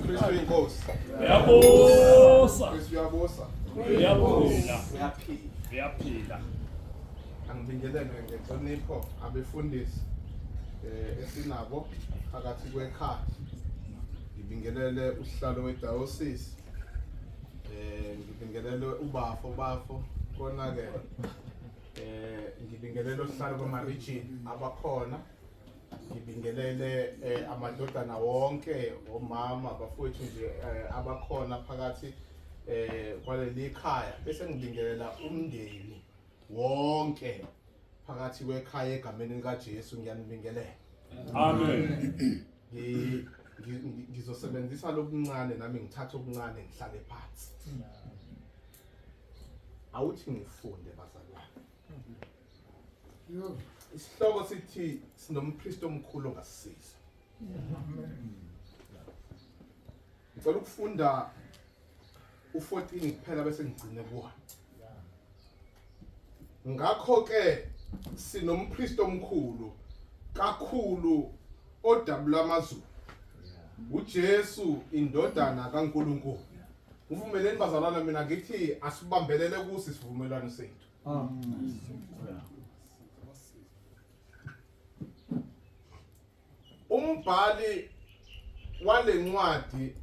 Kristu inkosi. Uyabusa. Kristu uyabusa. Uyabusa. Uyaphila. Uyaphila. Angibingelele ngenhlonipho abefundisi eh esinabo phakathi kwekhaya. Ngibingelele usihlalo wedayosisi. Eh ngibingelele ubafo bafo konakele. Eh ngibingelele usihlalo kwamarijini abakhona. ngibingelele eh, amadodana wonke omama abafowethu nje eh, abakhona phakathi eh, kwaleli khaya bese ngibingelela umndeni wonke phakathi kwekhaya egameni likaJesu ngiyanibingelela Amen. Ngi- ngi- ngi- ngizosebenzisa lokuncane nami ngithathe okuncane ngihlale phansi awuthi ngifunde bazalwane isihloko sithi sinompristi omkhulu ongasisiza ngicela ukufunda u-14 kuphela bese ngigcine kuwona ngakho-ke sinompristi omkhulu kakhulu odabula amazulu uJesu indodana kaNkuluNkulu uvumeleni bazalwana mina ngithi asibambelele kusi sivumelwano sethu Ah. umbhali walencwadi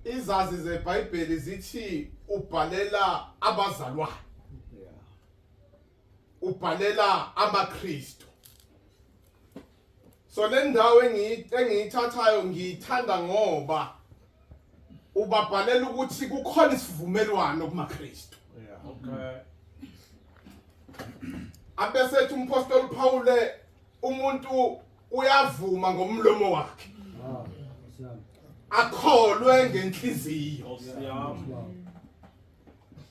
izazi zeBhayibheli zithi ubhalela abazalwane ubhalela amaKristu so le ndawo engiyithathayo ngiyithanda ngoba ubabhalela ukuthi kukhona isivumelwano kumaKristu yeah okay abesethi umpostoli Pawule umuntu uyavuma ngomlomo wakhe akholwe ngenhliziyo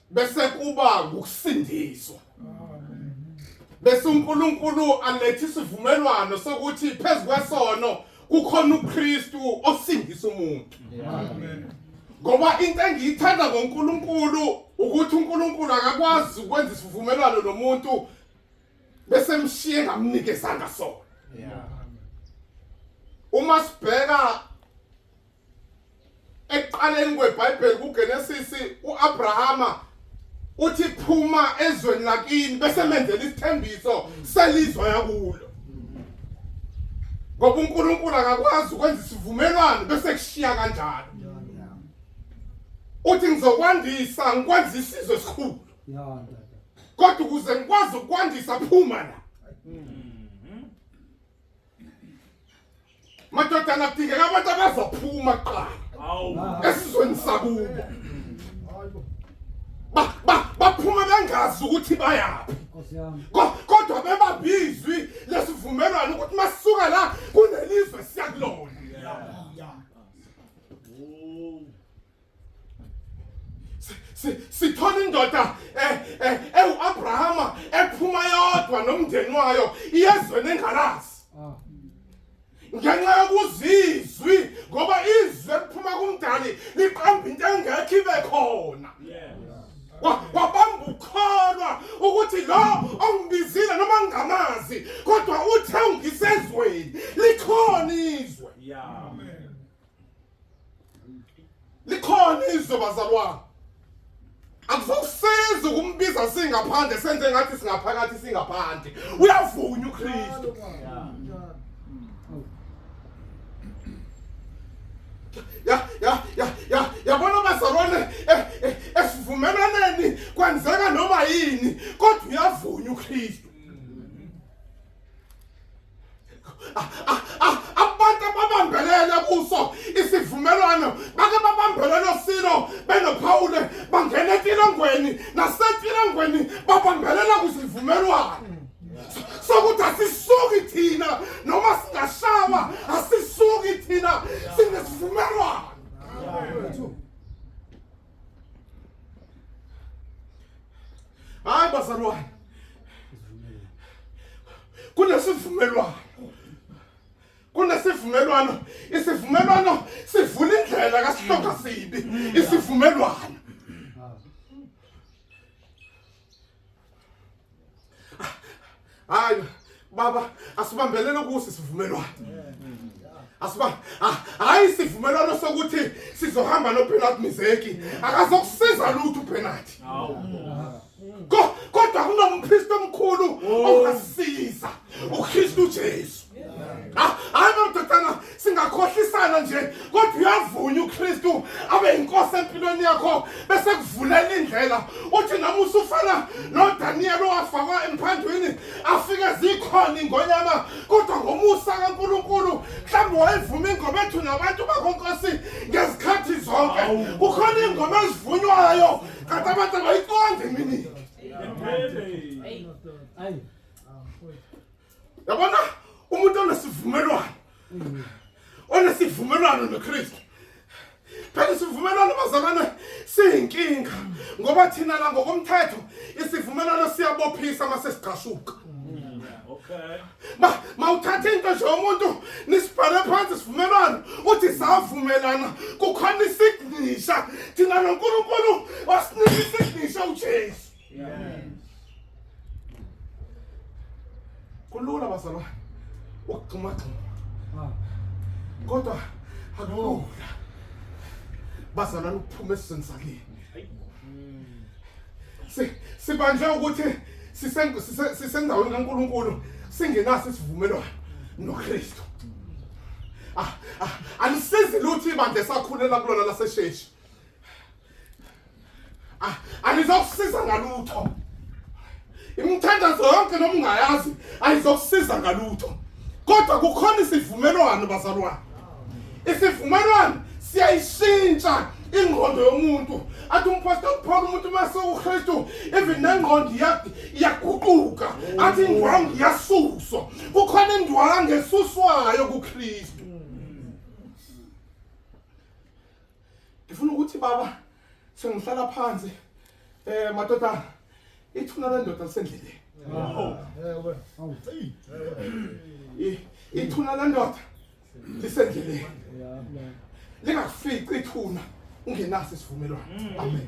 bese kuba ngokusindiswa bese uNkulunkulu alethe isivumelwano sokuthi phezu kwesono kukhona uKristu osindisa umuntu amen ngoba into engiyithanda ngoNkulunkulu ukuthi uNkulunkulu akakwazi ukwenza isivumelwano nomuntu bese mshiye ngamnikezanga sona yeah uma sibheka ekuqaleni kweBhayibheli kuGenesis uAbrahama uthi phuma ezweni lakini bese menzela isithembiso selizwe yakulo ngoba uNkulunkulu akakwazi ukwenza isivumelwano bese kushiya kanjalo uthi ngizokwandisa ngikwenza isizwe esikhulu kodwa ukuze ngikwazi ukwandisa phuma la mm. madoda angadingeka abantu abazophuma kuqala esizweni sakubo baphuma bengazi ukuthi bayaphi kodwa bebabizwi lesivumelwano ukuthi masuka la kunelizwe siyakulona sithola indoda eh, eh, ewu-abrahama ephuma yodwa nomndeni wayo iyezweni engalazi ah. ngenxa yokuzizwi ngoba izwi eliphuma kumdali liqamba into engekho ibe khona wabamba ukholwa ukuthi lo ongibizile noma ngingamazi kodwa uthe ungisezweni likhona izwe yeah. likhona izwe bazalwane akuzokusiza ukumbiza singaphandle senze ngathi singaphakathi singaphandle uyavunya uKristu ya ya ya ya yabona bazalwane eh, eh, esivumelaneni kwenzeka noma yini kodwa uyavunya uKristu abantu ababambelele kuso isivumelwano bake babambelele osilo benophawule bangena etilongweni nasetilongweni babambelela kusivumelwano sokuthi asisuki thina noma singashawa asisuki thina sinesivumelwano Hayi bazalwane. Kunesivumelwano. Kunesivumelwano. Isivumelwano sivula indlela kasihlonga sibi. Isivumelwano. hayi baba asibambelele kusi sivumelwano asiba hayi sivumelwano sokuthi sizohamba noPenalty Mizeki akazokusiza lutho uPenalty kodwa kunompriest omkhulu ongasiza uKristu Jesu Ah, hayi nododana singakhohlisana nje kodwa uyavunya uKristu abe inkosi empilweni yakho bese kuvulela indlela uthi nami usufana noDaniel owafakwa emphandwini afike zikhona ingonyama kodwa ngomusa kaNkuluNkulu mhlawumbe wayivuma ingoma ethu nabantu bakonkosi ngezikhathi zonke kukhona ingoma ezivunywayo kanti abantu abayiqondi mini Amen. Amen. yabona umuntu onesivumelwano onesivumelwano noKristu phela isivumelwano bazalwane siyinkinga ngoba thina la ngokomthetho isivumelwano siyabophisa uma sesigqashuka ma mawuthatha into nje umuntu nisibhale phansi sivumelwano uthi savumelana kukhona isignisha thina noNkulunkulu wasinika isignisha uJesu Amen. Kulula bazalwane ukugxumagxuma. Ah. Kodwa akulula. Bazalwane ukuphuma esizweni sakini. Si sibanjwe ukuthi sisendaweni kaNkuluNkulu singenaso isivumelwano noKristu. Ah, ah, alisizi lutho ibandla esakhulela kulona lasesheshi. Ah, angizokusiza ngalutho. Imithandazo yonke noma ungayazi ayizokusiza ngalutho. Kodwa kukhona isivumelwano bazalwane. Isivumelwano siyayishintsha ingqondo yomuntu athi umpostoli paul umuntu uma sewukristu even nengqondo iyaguquka athi indwangu iyasuswa kukhona indwangu esuswayo kukristu ngifuna ukuthi baba sengihlala phansi eh madoda ithuna lendoda lisendleleni ithuna lendoda lisendleleni lingakufici ithuna ungenaso isivumelwano amen